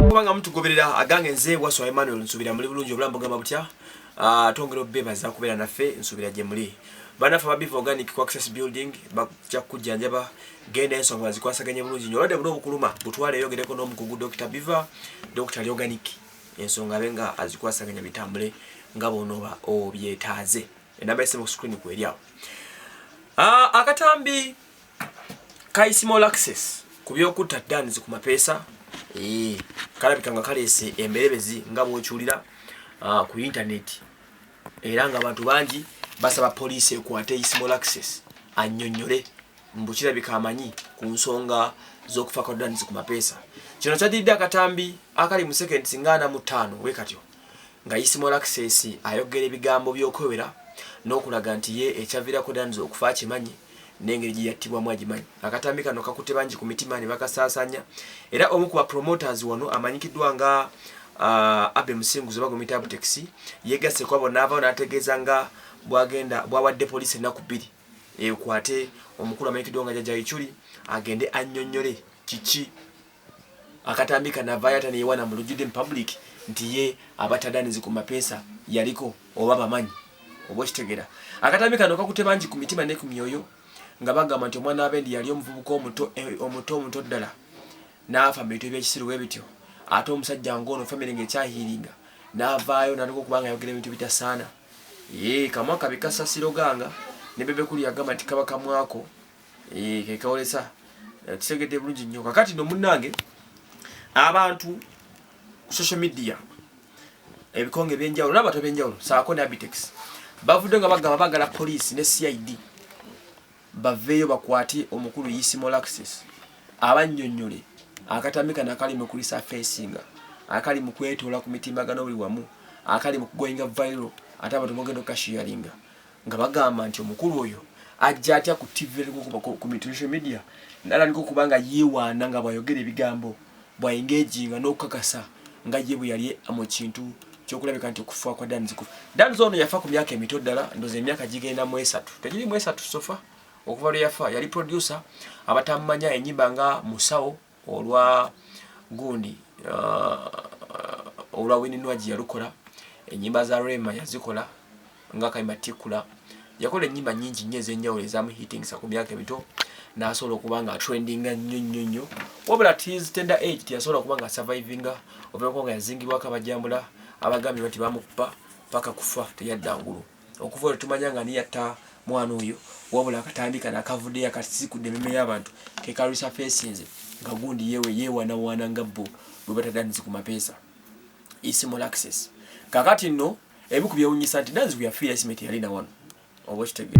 kubanga mutugoberera agange nze waswa Emmanuel nsubira muli bulungi obulamu bugamba butya ah, twongera obebaza kubeera naffe nsubira gye muli banaffe ababiva organic ku access building bajja kujjanjaba genda ensonga bazikwasaganye bulungi nyo olwadde buli obukuluma butwale eyogereko n'omukugu dr biva dr organic ensonga abe nga azikwasaganya bitambule nga bonoba obyetaaze enamba yesimu ku screen kweri awo ah, akatambi kaisimo laxes ku byokutta danzi ku mapeesa eh, kalabika nga kaleese emberebezi nga bwokiwulira ah, ku intaneti era nga abantu bangi basaba poliisi ekwate isimo laxes annyonnyole mbu kirabika amanyi ku nsonga z'okufa kwa danzi ku mapeesa kino kyadiridde akatambi akali mu sekendi singaana mu ttaano wekatyo nga Isimo Laxess ayogera ebigambo by'okwewera n'okulaga nti ye ekyaviirako Danzo okufa akimanyi n'engeri gye yattibwamu agimanyi. Akatambi kano kakutte bangi ku mitima ne bakasaasaanya era omu ku ba promoters wano amanyikiddwa nga uh, Abe Musinguzi oba gwemuyita Abtex yeegasse ku abo n'avaawo n'ategeeza nga bwagenda bwawadde poliisi ennaku bbiri ekwate omukulu amanyikiddwa nga Jajja Ichuli agende annyonnyole kiki akatambi kanavayo ata neyewana mulujude mu public nti ye abatadanizi ku mapesa yaliko oba bamanyi oba okitegera akatambi kano kakute bangi ku mitima ne ku myoyo nga bagamba nti omwana wabendi yali omuvubuka omuto eh, omuto omuto ddala naafa mu bintu ebyekisiru we bityo ate omusajja ngaono famiry nga ekyahiringa navaayo natuka okubanga ayogera ebintu bitasaana ye kamwa kabi kasasiro ganga ne bebekulu yagamba nti kaba kamwako eh, kekawolesa eh, tusegedde bulungi nnyo kakati no munnange abantu social media ebikonge ebyenjawulo nabantu ebyenjawulo saako ne abitex bavudde nga bagamba bagala poliisi ne cid baveeyo bakwate omukulu yisimal access abannyonnyole akatambi kano akali mu kulisa fesinga akali mu kwetoola ku mitimbagano buli wamu akali mu kugoinga vairo ate abantu mugenda okukashiyaringa nga bagamba nti omukulu oyo ajja atya ku tv kumitricial media nalandika okuba nga yewaana nga bwayogera ebigambo bwaengejinga n'okukakasa nga ye bwe yali mu kintu kyokulabika nti okufa kwa danzi kufa danzi ono yafa ku myaka emito ddala ndoza emyaka gigenda mu esatu tegiri mu esatu sofa okuva lwe yafa yali producer abatamumanya enyimba nga musawo olwa gundi uh, olwa wininwagi yalukola enyimba za rema yazikola nga kayimba tikula yakola enyimba nyingi nnyo ezenjawulo ezamuhitingisa ku myaka emito nasobola okuba nga atrendinga nnyo nnyo nnyo wabula tis tender age teyasobola okuba nga survivinga ovaeko nga yazingibwako abajambula abagambye bati bamukupa paka kufa teyadda ngulu Okuva olwo tumanya nga ani yatta mwana oyo wabula akatambi kano akavuddeyo akasisikudde ememe y'abantu kekalwisa feesi nze nga gundi yewe yeewanawaana nga bbo bwe batadanizi ku mapeesa isimal access kakati nno ebiku byewunyisa nti danizi kuyafiira isimeti yalina wano oba okitegee